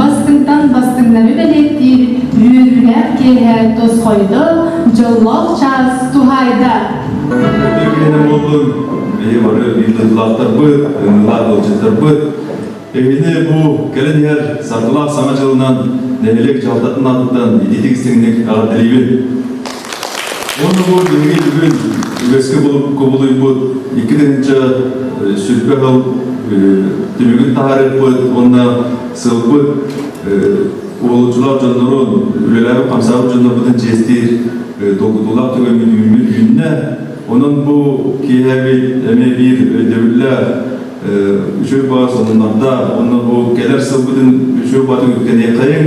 Бастыҥтан бастыҥнары үлэлэттиир үөрүүлээх киэһэ тосхойдо, дьоллоох чаас туһаайда. Итиэннэ буоллун бэйи бары ыйытыылаахтарбыт, ыйытыылаах ыалдьыттарбыт. Эһини бу кэлэн иһэр Саргылаах Саҥа дьылынан нэһилиэк дьалдатын аатыттан ититик истиҥник эҕэрдэлиибин. Оннугу бүгүн бүгүн үгэскэ кубулуйбут икки тыһыынча э, сүрбэ сыл э, түмүгүн таһаарыппыт уонна сылбыт э, уолучулар дьоннорун үлэлэрин хамсаабыт дьоннорбутун чиэстиир долгутуулаах түгэммит үүммүт үүннэ онон бу киэһэбит эмэ биир өйдөбүллэ үчүгэй баас онунарда онно бу келер сылбытын үчүгэй баатын үткэниэххайын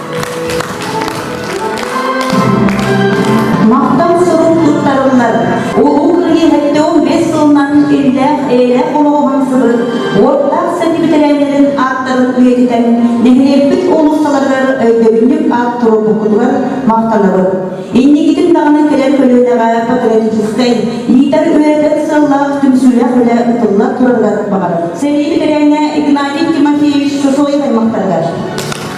Мантан сорун туттарыллар улуу кириэһэттэ он бес сылынан иллээх эйэлээх олоҕуһан сыбыр уоттаах сати битэрээлэрин ааттарын үйэтитэн нэһилиэкпит олусталарыгар өйдөбүннүк аат турбукутугар махтанабын. Иннигитин даҕаны кэлэн көлүөнэҕэ патриотическай, иитэр үөрэтэр сыллаах түмсүүлэх үлэ ытылла турарыгар баҕар. Сэрии битэрээҥэ Игнатий Тимофеевич Сосоев аймақтарыгар.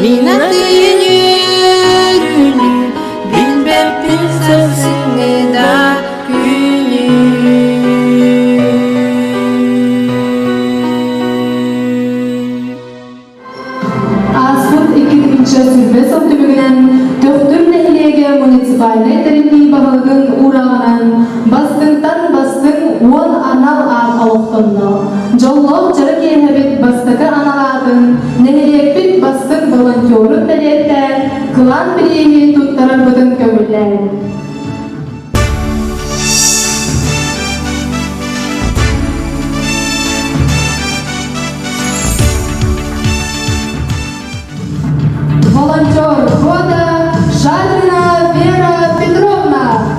Мина тыйыньын Билбэппин сылсыҥҥыда күнүн Ааспыт икки тыһыынча сүүрбэ сыл түмүгүнэн Төхтүр нэһилиэгэ муниципальнай тэриллии баһылыгын уурааҕынан бастыҥтан бастыҥ уон анал аат олохтонно. Дьоллоох дьоро киэһэбит бастакы анал аатын нэһилиэкпит бастыҥ волонтерун бэлиэтээн кылаан бирииһи туттарарбытын көҥүллээн волонтер года Шалина Вера Петровна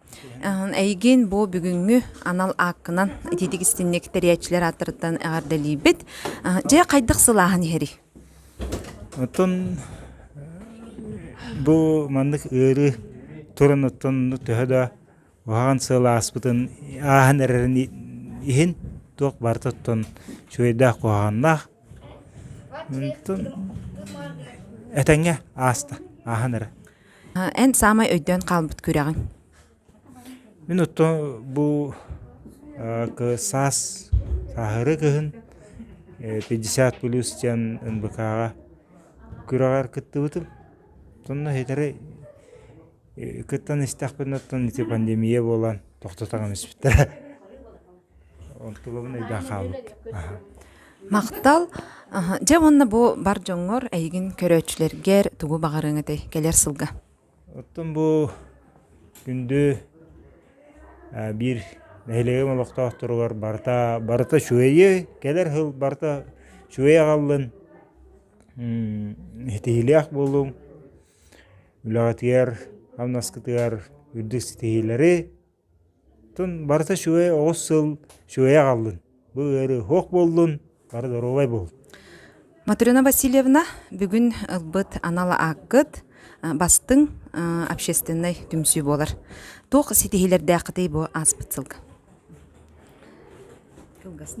Эйигин бу бүгүҥҥү анал ааккынан ититик истинник тэрийээччилэр ааттарыттан эҕэрдэлиибит. Дьэ, хайдах сылааһын иһэрий? Оттон бу маннык ыарыы туран оттон төһө да уһаҕан сыал ааспытын ааһан эрэрин иһин туох барыта оттон үчүгэйдээх куһаҕаннаах. Оттон этэҥҥэ ааста ааһан эрэр. Эн саамай өйдөөн хаалбыт күрэҕиҥ? Мин оттон бу саас сааһырыы кыһын пятьдесят плюс диэн НБК-ҕа күрэҕэр кыттыбытым. Сонно итири кыттан истэхпинэ оттон ити пандемия буолан тохтотон испиттэрэ Махтал. Дьэ уонна бу бар дьоҥҥор, эйигин көрөөччүлэргэр тугу баҕарыаҥ этэй кэлэр сылга? Оттон бу күндү биир нэһилиэгим олохтоохторугар барыта барыта үчүгэйи, кэлэр сыл барыта үчүгэй аҕаллын, ситиһиилээх буолуҥ, үлэҕитигэр, хамнаскытыгар үрдүк ситиһиилэри. Тун барыта үчүгэй оҕус сыл үчүгэйи аҕаллын бу ыарыы оһох буоллун бары доруобай буолун Матрена Васильевна бүгүн ылбыт анал ааккыт бастыҥ общественнай түмсүү буолар туох ситиһиилэрдээххитий бу ааспыт сылга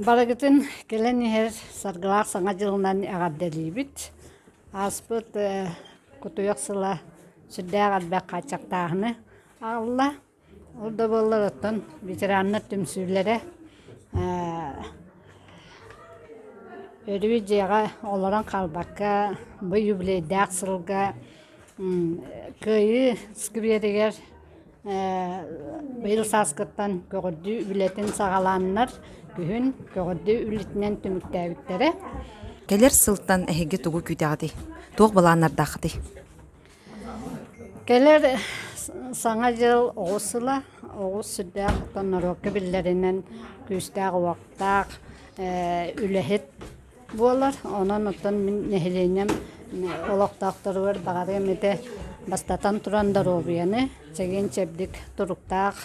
барыгытын кэлэн иһэр саргылаах саҥа дьылынан эҕэрдэлиибит ааспыт кутуйах сыла сүрдээх элбэх хааччахтааһыны Алла ол да буоллаҕыттан ветераннар түмсүүлэрэ өрүү дьиэҕэ олорон хаалбакка бу юбилейдаах сылга Кыайыы скверигэр быйыл сааскыттан көҕөрдүү үлэтин саҕалааннар күһүн көҕөрдүү үлэтинэн түмүктээбиттэрэ. Кэлэр сылтан эһиги тугу күүтэҕитий? Туох былааннардааххытый? Кэлэр Саҥа дьыл оҕус сыла, оҕус сүрдээх оттон норуокка биллэринэн күүстээх-уоттаах үлэһит буолар. Онон оттон мин нэһилиэнньэм олохтоохторугар баҕары эмитэ бастатан туран доруобуйаны чэгиэн-чэбдик туруктаах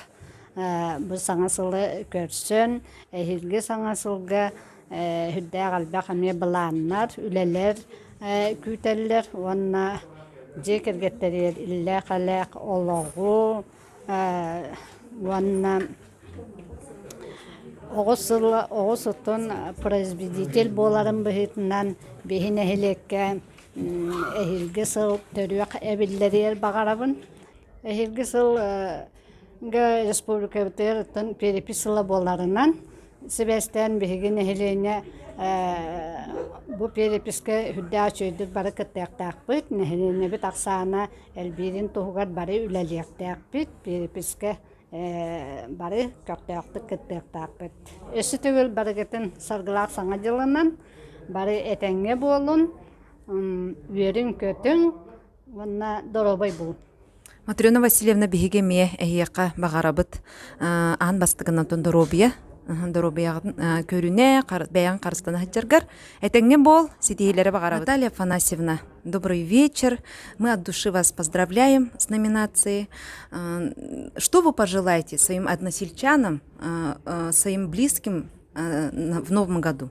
бу саҥа сылы көрсөн, эһиилги саҥа сылга Сүрдээх элбэх эмиэ былааннар, үлэлэр күүтэллэр уонна дьиэ кэргэттэригэр иллээх-элээх олоҕу уонна оҕус сыл оҕус отун производитель буоларын быһыытынан биһи нэһилиэккэ эһиилги сыл төрүөх эбиллэриэр баҕарабын. Эһиилги сыл республикабытыттан перепись сыла буоларынан сибээстээн биһиги нэһилиэнньэ бу переписка үрдээх үчүгэйдик бары кыттыахтаахпыт нэһилиэнньэбит ахсаана элбиирин туһугар бары үлэлиэхтээхпит переписка бары көхтөөхтүк кыттыахтаахпыт өссө төгүл барыгытын саргылаах саҥа дьылынан бары этэҥҥэ буолун үөрүҥ көтүҥ уонна доруобай буолун Матрена Васильевна биһиги эмиэ эһиэхэ баҕарабыт аан бастыгынан доруобуйа доруобуйаҕытын көрүнэ бэйэҥ харыстана сылдьаргар этэҥҥэ буол ситиһиилэри баҕарабыт Наталья Афанасьевна добрый вечер мы от души вас поздравляем с номинацией что вы пожелаете своим односельчанам своим близким в новом году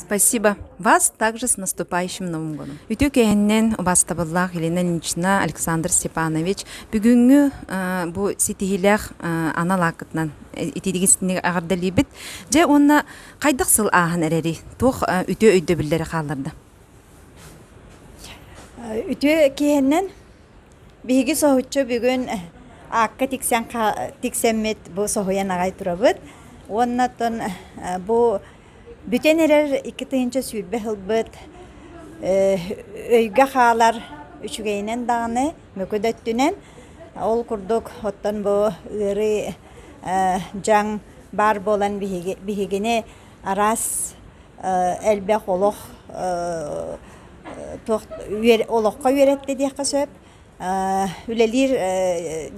Спасибо вас также с наступающим Новым годом! Үтүө кээһиннэн убаастабыллаах Елена Ильинична, Александр Степанович, бүгүҥҥү бу ситиһиилээх анал ааккытынан итиитигин аҕардалыыбыт. Дьэ уонна хайдах сыл ааһан эрэри? Туох үтүө өйдөбүллэри хаалларда? Үтүө кээһиннэн Биһиги соһуччу бүгүн аакка тиксэн тиксэммит бу соһуйан аҕай турабыт уонна оттон бу бүтэн эрэр икки тыһыынча сүүрбэ ылбыт өйгө хаалар үчүгэйинэн даҕаны мөкү да өттүнэн ол курдук оттон бу ыарыы дьаҥ баар буолан биһигини араас элбэх олох олоххо үөрэттэ диэххэ сөп. үлэлиир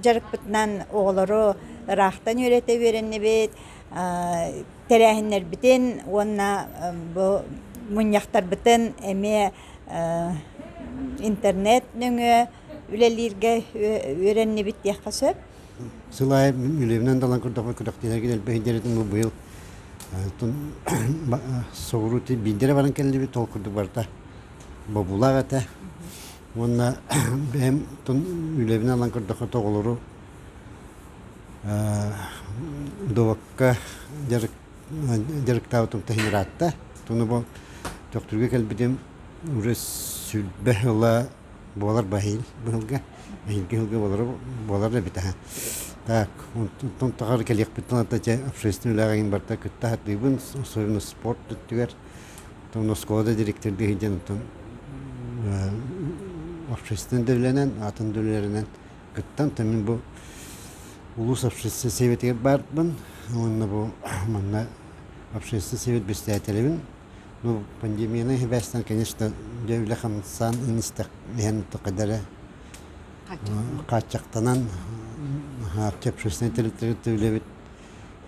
дьарыкпытынан оҕолору ыраахтан үөрэтэ үөрэннибит, тэрээһиннэрбитин уонна бу мунньахтарбытын эмиэ интернет нөҥүө үлэлииргэ үөрэннибит диэххэ сөп. Сыл аайы үлэбинэн талан көрдөхпө күрэхтиһэргин элбэх индэрэтим бу быйыл соҕуруу биирдэрэ баран кэллибит ол курдук барыта бобуулаах этэ уонна бэйэм үлэбинэн ылан көрдөххө оҕолору добокка дьарыктаабыт умтаһын ыраатта тону бу төхтүргэ кэлбитим уже сүлбэ ыла буолар баһыйым быһылга эһиги ыһылга буолара буолар да эбит аһа так онтон таҕар кэлиэхпиттэн ата дьэ общественный үлэҕин барта кытта хатыыбын особенно спорт өттүгэр оттон оскуола директордыы сылдьан оттон общественнай да атын да үлэлэринэн кыттан то мин бу улуус общественнай сэбиэтигэр баарбын уонна бу манна общественнай сэбиэт бэстээтэлибин Ну, пандемияны хибээстэн, конечно, дьэ үлэ-хамсаан инистэх иһэн тукадары хааччахтанан хаарчы общественный территориятта үлэбит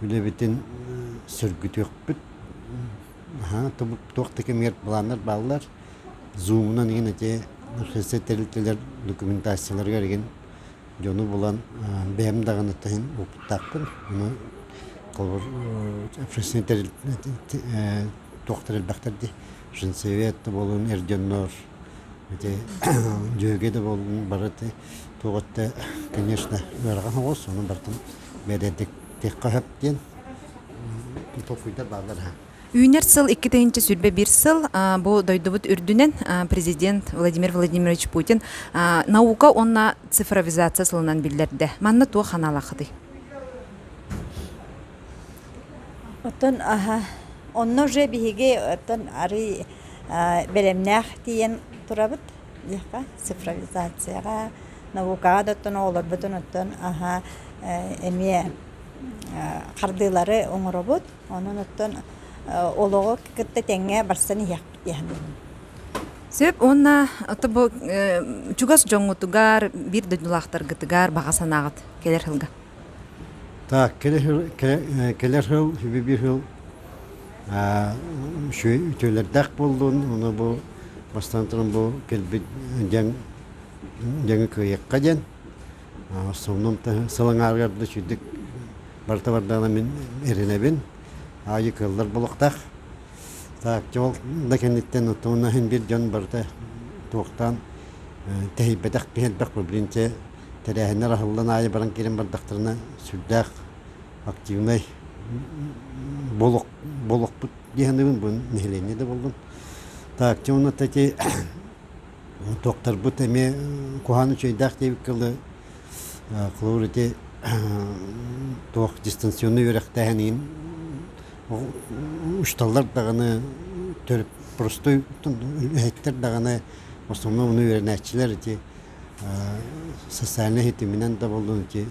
үлэбитин сөргүтүөхпүт аха туох да кэмигэр планнар бааллар зумунан игин эти общественный территориялар документацияларыгар игин дьону булан бэйэм даҕаны таһын ууппуттаахпын ону холобур фрисинтер туохтар элбэхтэр дии фринцевет да буолун эр дьоннор ити дьүөгэ да буолун барыты туоҕутта конечно ыарахан соҕус ону барытын бэдэдиктиэххэ сөп диэн толкуйдар бааллар Үүнэр сыл икки тыһыынча сүүрбэ биир сыл бу дойдубут үрдүнэн президент Владимир Владимирович Путин наука уонна цифровизация сылынан биллэрдэ. Манна туох ханаалахытый? Оттон аха онно же биһиги оттон арый бэлэмнээх тиийэн турабыт диэххэ цифровизацияҕа наукаҕа да оттон оҕолорбутун оттон аха эмиэ хардыылары оҥоробут Онон оттон олоҕу кытта тэҥҥэ барсан иһиэхпит Сөп уонна ото бу чугас дьоҥҥутугар, биир дойдулаахтаргытыгар баҕа санааҕыт кэлэр сылга? Так, кэлэр сыл биир сыл үчүгэй үтүөлэрдээх буоллун уну бу бастаан туран бу кэлбит дьаҥы кыайыахха диэн сонун сыл аҥаарыгар да сүрдүк барыта бардаҕына мин эрэнэбин аайы кыаллар болуктаах тааччы ол да кэнниттэн оттоҕуна иһин биир дьон барыта туохтаан тэһийбэтэх биһэлбэх блинчэ тэрээһиннэр аһыллан аайы баран киирэн бардахтарына сүрдээх активнай болук болукпут диэхинэбин бу нэһилиэнньэ да буоллун тааччы уонна эти Докторбут эмиэ куһаҕан үчүгэйдээх диэбит кылы холобур ити туох дистанционнай үөрэхтээһин иһин учууталлар даҕаны төрүт простой үлэһиттэр даҕаны в основном ону үөрэнээччилэр ити социальнай ситиминэн да буоллун ити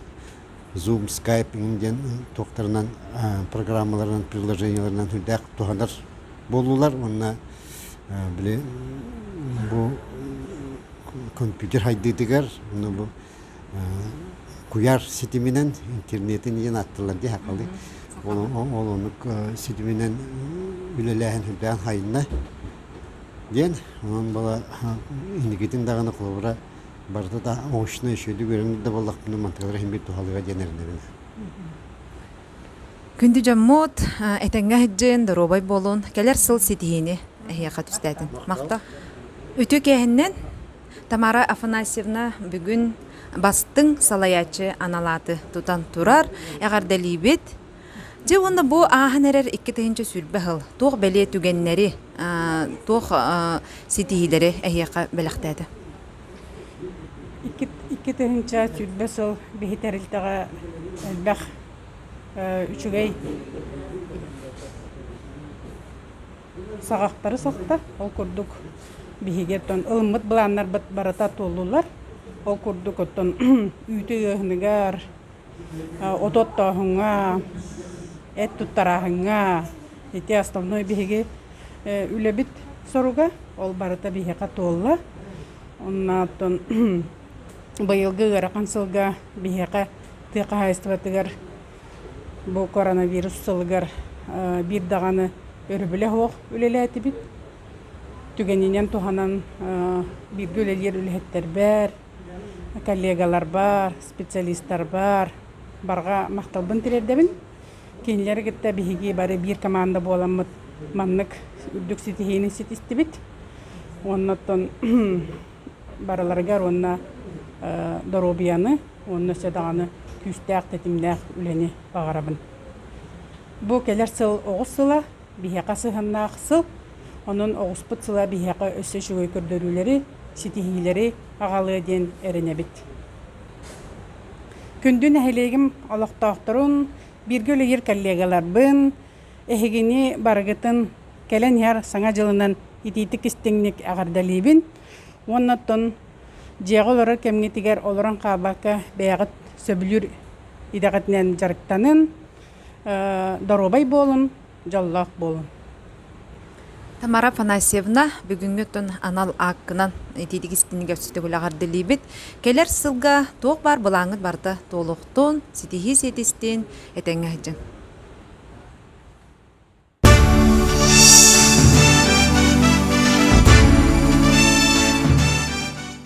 Zoom, Skype диэн туохтарынан программаларынан, приложениеларынан үрдээх туһанар буоллулар уонна били бу компьютер хайдыытыгар уонна бу куйаар ситиминэн интернетин диэн ааттылар дии хахалыы ол оннук ситиминэн үлэлээһин үрдээн хайынна диэн онон была инникитин даҕаны холобура барыта да оҥочнай үчүгэйдик үөрэнэр да буоллахпына мантыгар иһиммит туһалыга диэн эрэнэбин күндү дьоммут этэҥҥэ сыдьыын доруобай буолун кэлэр сыл ситиһиини эһиэхэ түстээтин махта үтүө кээһиннэн тамара афанасьевна бүгүн бастыҥ салайааччы аналааты тутан турар эҕэрдэлиибит Дьэ уонна бу ааһан эрэр икки тыһыынча сүүрбэ сыл туох бэлиэ түгэннэри, туох ситиһиилэри эһиэхэ бэлэхтээтэ? Икки, икки тыһыынча сүүрбэ сыл биһи тэрилтэҕэ элбэх үчүгэй саҕахтары сахта. Ол курдук биһиги оттон ылыммыт былааннарбыт барыта туоллулар. Ол курдук оттон үүтү ыаһыныгар, Оту оттооһуҥҥа, эт туттарааһыҥҥа ити основной биһиги үлэбит соруга. Ол барыта биһиэхэ туолла. Оннооттон быйылгы ыарахан сылга биһиэхэ тыа хаһаайыстыбатыгар бу коронавирус сылыгар биир даҕаны өрөбүлэ суох үлэлээтибит. Түгэнинэн туһанан бииргэ үлэлиир үлэһиттэрбэр, коллегаларбар, специалистарбар барҕа махталбын тириэрдэбин. Кинилэри кытта биһиги бары биир команда буоламмыт маннык үрдүк ситиһиини ситистибит. Уонна оттон барыларыгар уонна доруобуйаны уонна өссө даҕаны күүстээх, тэтимнээх үлэни баҕарабын. Бу кэлэр сыл оҕус сыла, Биһиэхэ сыһыаннаах сыл, онон оҕуспут сыла биһиэхэ өссө үчүгэй көрдөрүүлэри, ситиһиилэри аҕалыа диэн эрэнэбит. Күндү нэһилиэгим олохтоохторун, бииргэ үлэлиир коллегаларбын, эһигини барыгытын кэлэн иһэр Саҥа дьылынан итиитик-истиҥник эҕэрдэлиибин уонна оттон дьиэҕэ олорор кэмҥитигэр олорон хаалбакка бэйэҕит сөбүлүүр идэҕитинэн дьарыктанын, доруобай буолун, дьоллоох буолун. Тамара Афанасьевна, бүгүҥҥүттэн анал ааккынан итиитик истинигэ сүтүгүлэҕэр дилиибит. Кэлэр сылга туох баар былааҥҥыт барыта туолуохтун, ситиһии ситистин, этэҥҥэ сылдьыҥ.